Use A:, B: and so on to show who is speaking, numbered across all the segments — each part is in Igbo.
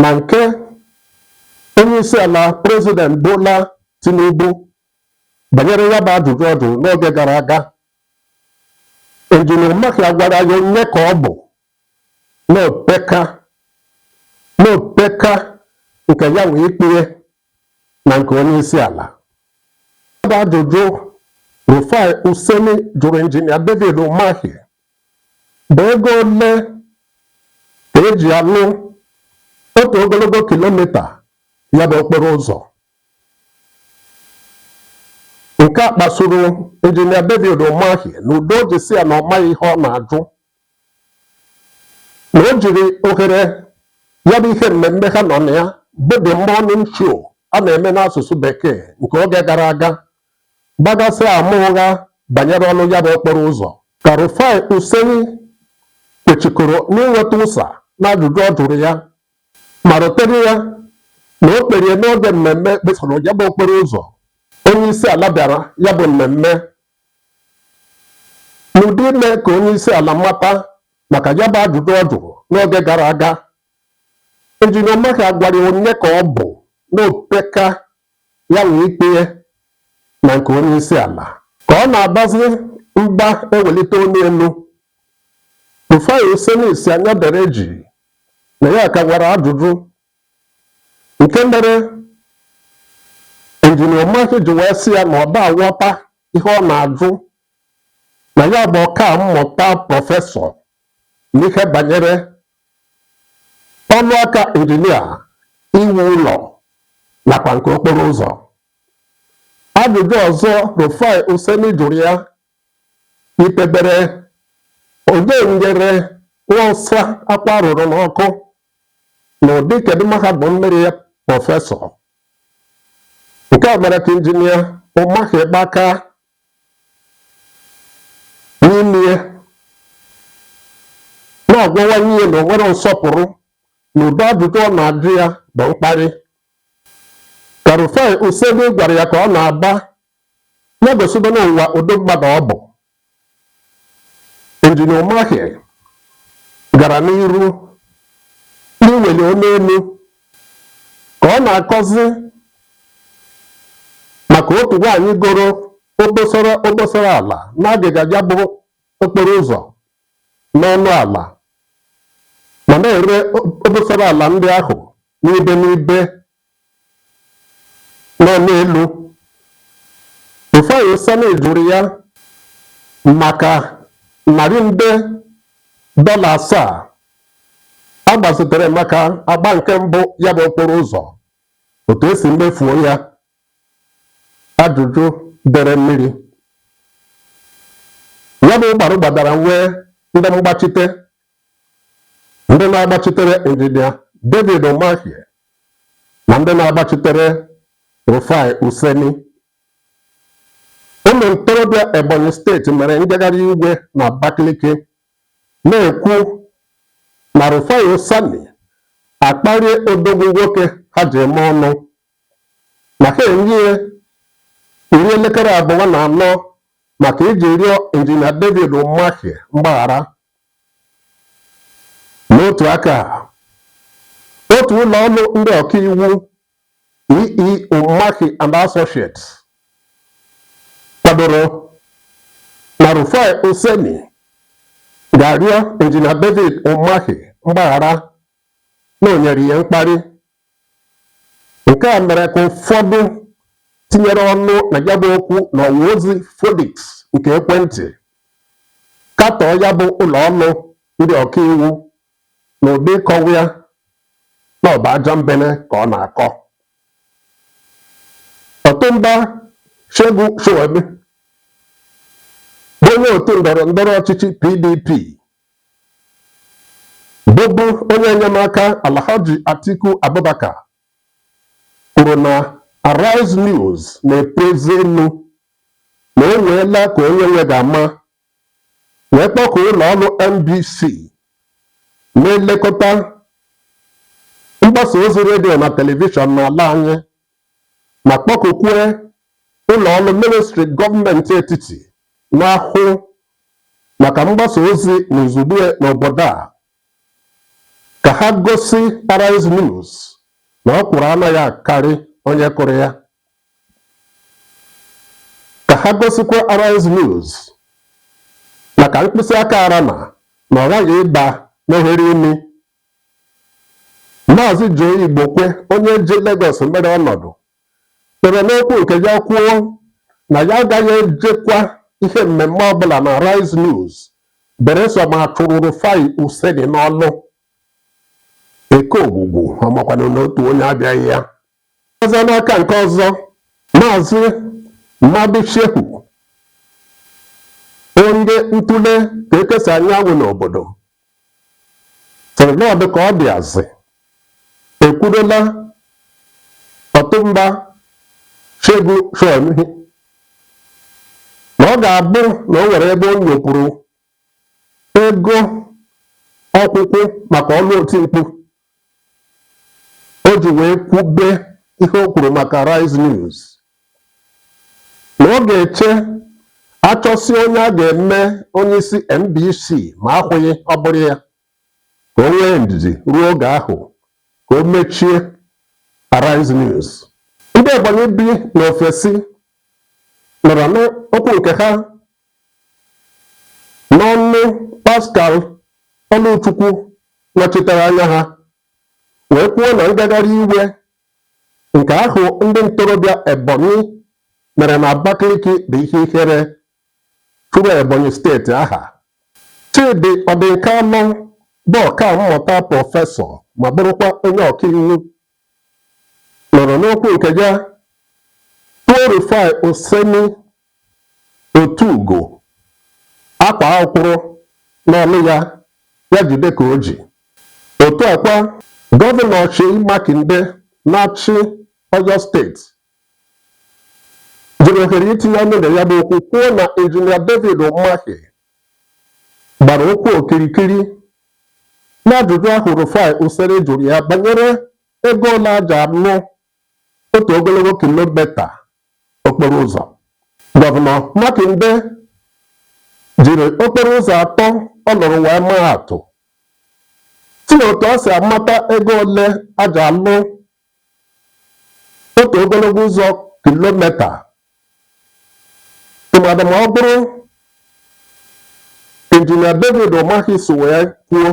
A: na nke onyeisiala prezident Bola Tinubu banyere ya bụ ajụjụ ọ jụrụ n'oge gara aga injinia Umahi agwara ya onye ka ọ bụ na o peka na o peka nke ya wee ikpee na nke onye isi ala ya bụ ajụjụ Rufai Oseni jụrụ injinia David Umahi bụ ego ole ka e ji alụ otu ogologo kilomita ya bụ okporo ụzọ nke a kpasuru injinia David Umahi n'ụdị o ji sị ya na ọ maghị ihe ọ na-ajụ na o jiri ohere ya bụ ihe mmemme ha nọ na ya bụ the morning show a na-eme n'asụsụ bekee nke oge gara aga gbagasịa ama ụgha banyere ọnụ ya bụ okporo ụzọ. Ka Rufai Oseni kwechikoro n'inweta ụsa n'ajụjụ ọ jụrụ ya ma rotere ya na o kperie n'oge mmemme gbasara ya bụ okporo ụzọ, onyeisiala bịara ya bụ mmemme n'ụdị ime ka onyeisiala mata maka ya bụ ajụjụ ọ jụrụ n'oge gara aga. Injinia Umahi agwara ya onye ka ọ bụ na o peka ya wee ikpee na nke onye isi ala. Ka ọ na-abazi mba ewelite onu elu, Rufai Oseni sị ya dere jii na ya ka nwere ajụjụ nke mere Injinia Umahi ji wee sị ya na ọ da aghọta ihe ọ na-ajụ na ya bụ ọka mmụta prọfesọ n'ihe banyere ọlụ aka injinia iwu ụlọ nakwa nke okporo ụzọ ajụjụ ọzọ Rufai Oseni jụrụ ya yitebere onye nyere nwa ọsa akwụ a rụrụ n'ọkụ na ụdị kedu mahadum mere ya prọfesọ nke a mere ka injinia Umahi gba aka n'ime ya na-agwawanye ya na o nwerọ nsọpụrụ na ụdị ajụjụ ọ na-ajụ ya bụ mkparị ka Rufai Oseni gwara ya ka ọ na-aba ya gosiba n'ụwa ụdị mmadụ ọ bụ Injinia Umahi gara n'iru n'iweli olu elu ka ọ na-akọzi maka otu nwaanyị goro obosara obosara ala n'agịga ya bụ okporo ụzọ n'ọnụ ala ma na-ere obosara ala ndị ahụ n'ibe n'ibe nọ n'elu Rufai Oseni jụrụ ya maka narị nde dọla asaa a gbazitere maka agba nke mbụ ya bụ okporo ụzọ otu esi mefuo ya ajụjụ dere mmiri ya bụ gbara gbadara nwee ndị mgbachite ndị na-agbachitere injinia David Umahi na ndị na-agbachitere Rufai Oseni ụmụ ntorobịa Ebonyi steeti mere njegharị iwe na Abakaliki na-ekwu na Rufai Oseni akparie odogwu nwoke ha ji eme ọnụ na ha enye ya iri elekere abụọ na anọ maka iji rịọ injinia David Umahi mgbaghara n'otu aka a, otu ụlọ ọrụ ndị ọkaiwu EE Umahi and Associates kwadoro na Rufai Oseni ga-arịọ injinia David Umahi mgbaghara na o nyere ya mkparị nke a mere ka ụfọdụ tinyere ọnụ na ya bụ okwu na ọwa ozi Phoenix nke ekwentị katọọ ya bụ ụlọ ọrụ ndị ọkaiwu na ụdị ịkọwa ya na ọ bụ ajambene ka ọ na-akọ Ọtụnba Segun Showunmi bụ onye otu ndọrọ ndọrọ ọchịchị PDP Bụbu onye enyemaka Alhaji Atiku Abubakar kwuru na Arise News na-epu eze elu na o nweela ka onye nwe ga-ama wee kpọkuo ụlọ ọrụ NBC na-elekọta mgbasa ozi redio na telivishọn n'ala anyị ma kpọkukwue ụlọ ọrụ ministri gọọmenti etiti na-ahụ maka mgbasa ozi na izugbe n'obodo a ka ha gosi Arise News na ọkwụrụ anaghị akarị onye kụrụ ya ka ha gosikwa Arise News na ka mkpịsị aka rana na ọ ghaghị ịba n'ohere imi Maazị Joe Igbokwe onye ji Legọs mere ọnọdụ kpere n'okwu nke ya kwuo na ya agaghị ejekwa ihe mmemme ọbụla na Arise News beresọ ma a chụrụ Rufai Oseni n'ọlụ. Eke ogwugwu ọ makwanụ na otu onye abịaghị ya. Ọzọ n'aka nke ọzọ, Maazị Mahdi Shehu, onye ntụle ka ekesa anyanwụ n'obodo, sịrị na ọ dị ka ọ dị azị ekwurola Ọtụnba Segun Sowunmi na ọ ga-abụ na o nwere ebe o nyopụrụ ego ọkwụkwụ maka ọrụ otimkpu o ji wee kwube ihe o kwuru maka Arise News na ọ ga-eche achọsi onye a ga-eme onye isi NBC ma akụhie ọ bụrụ ya ka o nwee ndidi ruo oge ahụ ka o mechie Arise News ndị Ebonyi bi n'ofesi nọrọ n'okwu nke ha N'ọnụ Pascal Ọlụchukwu nọchitere anya ha wee kwuo na ngagharị iwe nke ahụ ndị ntorobịa Ebonyi mere na Abakaliki bụ ihe ihere churu Ebonyi steeti aha. Chidi Odinkalụ bụ ọkammụta prọfesọ ma bụrụkwa onye ọkaiwu nọrọ n'okwu nke ya tuo Rufai Oseni otu ugo akwaa akwụrụ n'ọlụ ya ya jide ka o ji otu a kwa gọvanọ Seyi Makinde na-achị Oyo steeti jiri ohere itinye ọnụ na ya bụ okwu kwuo na injinia David Umahi gbara ụkwụ okirikiri n'ajụjụ ahụ Rufai Oseni jụrụ ya banyere ego ole a ji alụ otu ogologo kilomita okporo ụzọ gọvanọ Makinde jiri okporo ụzọ atọ ọ lụrụ wee maa atụ sị na otu a si amata ego ole a ji alụ otu ogologo ụzọ kilomita tụmadị ma ọ bụrụ injinia David Umahi so wee kwuo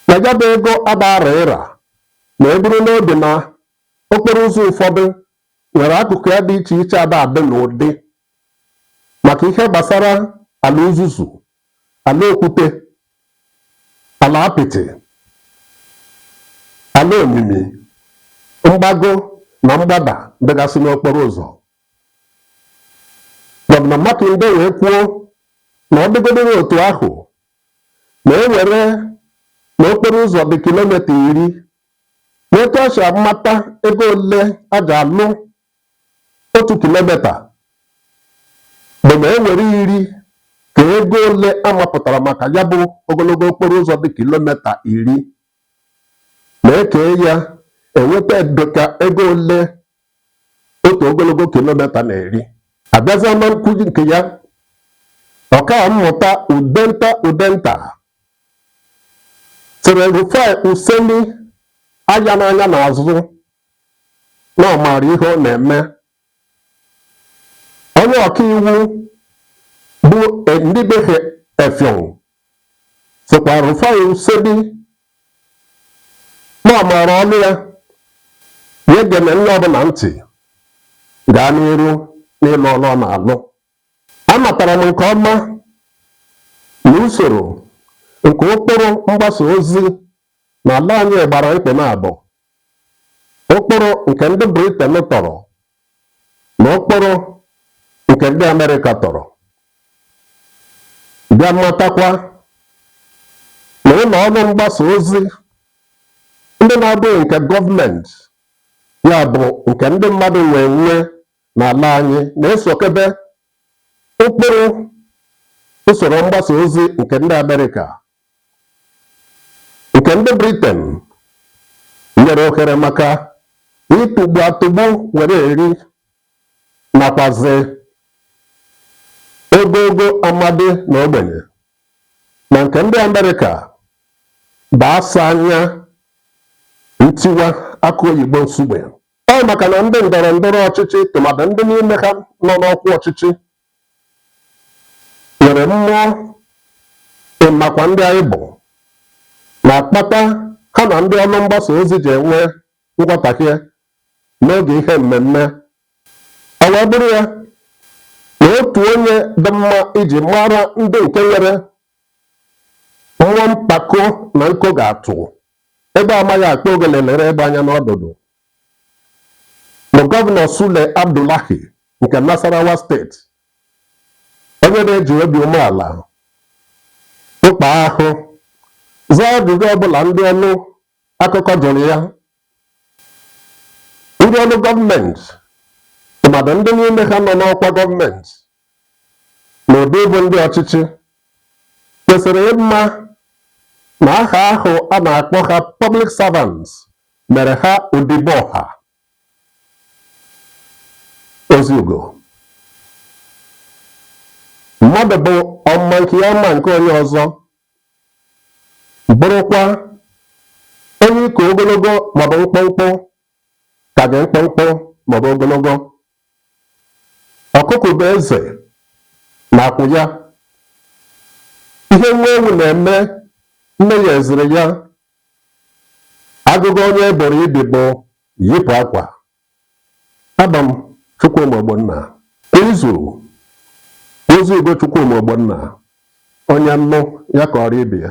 A: na ya bụ ego agbara ịra ma e buru n'obi na okporo ụzọ ụfọdụ nwere akụkụ ya dị iche iche ada adị n'ụdị maka ihe gbasara ala uzuzu ala okwute ala apịtị ala omimi mgbago na mgbada dịgasị n'okporo ụzọ gọvanọ Makinde wee kwuo na ọ dịgodịrị otu ahụ ma e were na okporo ụzọ dị kilomita iri na etu a si amata ego ole a ji alụ otu kilomita bụ ma e were iri ka ego ole a mapụtara maka ya bụ ogologo okporo ụzọ dị kilomita iri ma ekee ya enweta dịka ego ole otu ogologo kilomita na-eri abịazịa na nkuzi nke ya ọka mmụta udenta udenta sịrị rufai oseni ya enene anya n'azụ na ọ maara ihe ọ na-eme onye ọkaiwu bụ Inibehe Effiong sịkwa Rufai Oseni na ọ maara ọlụ ya ya egene onye ọbụla ntị gaa n'iru n'ịlụ ọlụ ọ na-alụ amatara m nke ọma na usoro nke ụkpụrụ mgbasa ozi na ala anyị gbara mkpị na abụọ ụkpụrụ nke ndị Briten tọrọ na ụkpụrụ nke ndị Amerịka tọrọ bịa matakwa na ụlọ ọrụ mgbasa ozi ndị na-abụghị nke gọọmenti ya bụ nke ndị mmadụ nwe enwe n'ala anyị na-esokebe ụkpụrụ usoro mgbasa ozi nke ndị Amerịka nke ndị Briten nyere ohere maka ịtụgbu atụgbu were eri nakwazi ogoogo amadi na ogbenye na nke ndị Amerịka bụ asa anya ntiwa akụ oyibo nsugbe ọ maka na ndị ndọrọ ndọrọ ọchịchị tụmadị ndị n'ime ha nọ n'ọkwa ọchịchị nwere mmụọ ịmakwa ndị anyị bụ na-akpata ha na ndị ọrụ mgbasa ozi ji enwe nghọtahie n'oge ihe mmemme ọ wee bụrụ ya na otu onye dị mma iji mara ndị nke nwere mmụọ mpako na nko ga-atụ egbe amaghị akpa ogele lere egbe anya n'ọdụdụ bụ gọvanọ Sule Abdullahi nke Nasarawa steeti onye na-eji obi umeala mkpa ahụ zaa ajụjụ ọbụla ndị ọrụ akụkọ jụrụ ya ndị ọrụ gọọmenti tụmadị ndị n'ime ha nọ n'ọkwa gọọmenti na ụdị ịbụ ndị ọchịchị kwesịrị ịma na aha ahụ a na-akpọ ha public servants mere ha odibo ọha ozi ugo mmadụ bụ ọma nke ya ma nke onye ọzọ bụrụkwa onye ị ka ogologo maọbụ mkpụmkpụ ka gị mkpụmkpụ maọbụ ogologo ọkụkọ bụ eze n'akwụ ya ihe nwa ewu na-eme nne ya eziri ya agụgọ onye e boro ibi bụ yipụ akwa abụ m Chukwuma Ogbonna kwa izu ozi ugo Chukwuma Ogbonna onye nụ ya kọọrọ ibe ya